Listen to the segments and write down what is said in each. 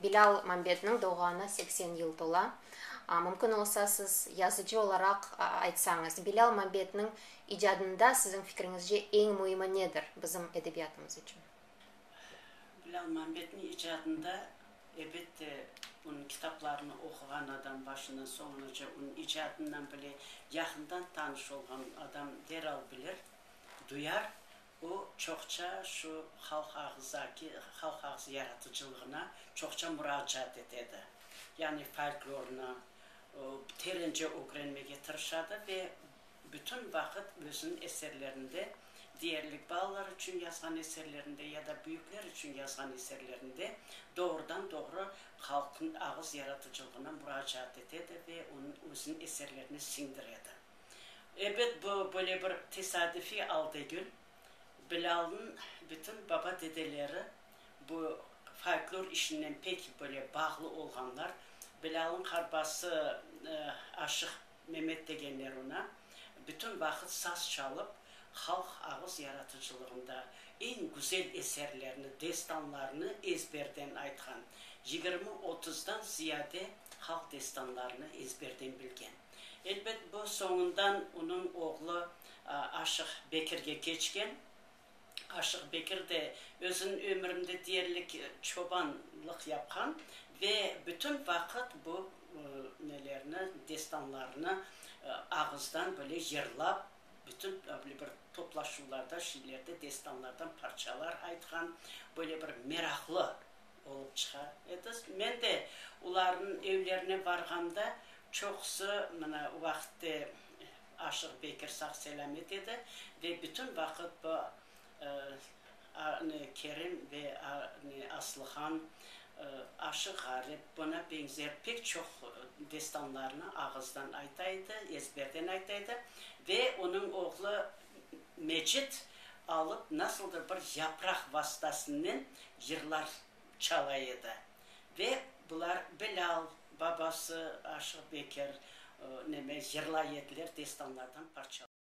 Bilâl Mambetniñ doğğanına seksen yıl tola. Mümkün olsa, siz yazıcı olaraq aytsañız, Bilâl Mambetniñ icadında siziñ fikriñizce eñ müimi nedir bizim edebiyatımız içün? Bilâl Mambetniñ icadında, elbette, onıñ kitaplarını oquğan adam, başından soñunace onıñ icadınen bile yaqından tanış olğan adam deral bilir. duyar, o, çoqça şu halq ağızdaki, halq ağız yaratıcılığına çoqça muracaat etedi. Yani folklornı terence ögrenmege tırışadı ve bütün vaqıt özüniñ eserlerinde, diyerlik balalar içün yazğan eserlerinde ya da büyükler içün yazğan eserlerinde doğrudan doğru halq ağız yaratıcılığına muracaat etedi ve onıñ, özüniñ eserlerine siñdiredi. Ebet, bu böyle bir tesadüfiy al degil. Bilâlnıñ bütün baba-dedeleri bu folklor işinen pek böyle bağlı olğanlar. Bilâlnıñ qarbası Aşıq Memet degenler oña bütün vaqıt saz çalıp, halq ağız yaratıcılığında eñ güzel eserlerni, destanlarnı ezberden aytqan. Yigirmi-otuzdan ziyade halq destanlarını ezberden bilgen. Elbet, bu soñundan onıñ oğlu Aşıq Bekirge keçken. Aşıq Bekir de özüniñ ömürinde deyerlik çobanlıq yapqan ve bütün vaqıt bu nelerni, destanlarnı ağızdan böyle yırlap, bütün böyle bir toplaşuvlarda, şeylerde destanlardan parçalar aytqan, böyle bir meraqlı. Olıp çıqa ediz. Men de ularnıñ evlerine barğamda çoqusı mına o vaqıtte Aşıq Bekir sağ-selâmet edi ve bütün vaqıt bu Kerim ve Aslıhan, Aşıq Ğarip, buna beñzer pek çoq destanlarnı ağızdan ayta edi, ezberden ayta edi ve onıñ oğlu Mecit alıp, nasıldır bir yapraq vastasınen yırlar çala edi. Ve bular Bilâl, babası Aşıq Bekir, neme, yırlay ediler, destanlardan parçalar.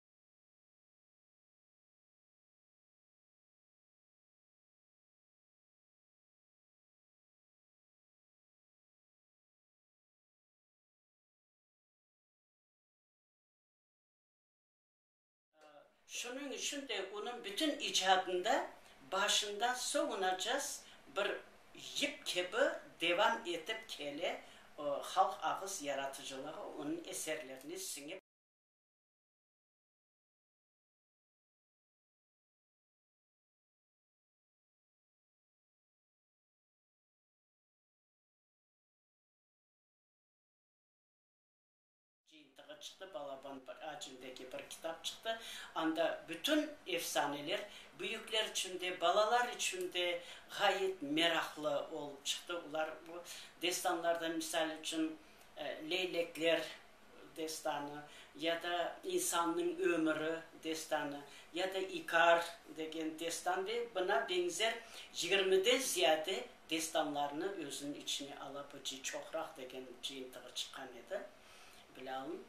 Şunıñ içün de onıñ bütün icadında başından soñunacas bir yip kibi devam etip kele, halq ağız yaratıcılığı onıñ eserlerine siñip. Cıyıntığı çıqtı, balaban acimdeki bir kitap çıqtı. Anda bütün efsaneler, büyükler içün de, balalar içün de ğayet meraqlı olıp çıqtı. Olar bu destanlardan, misal içün, Leylekler destanı, ya da İnsannıñ ömüri destanı, ya da İkar degen destan ve buna beñzer yigirmiden ziyade destanlarnı özüniñ içine ala bu ci çoqraq degen cıyıntığı çıqqan edi, bilâlim.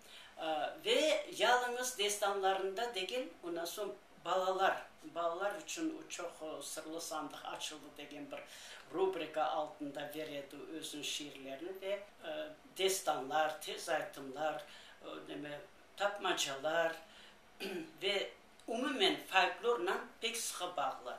Ve yalıñız destanlarında degil, ondan soñ balalar, balalar içün o çoq sırlı sandıq açıldı degen bir rubrika altında ber edi özüniñ şiirlerini ve destanlar, tez aytımlar, neme, tapmacalar ve umumen folklornan pek sıqı bağlı.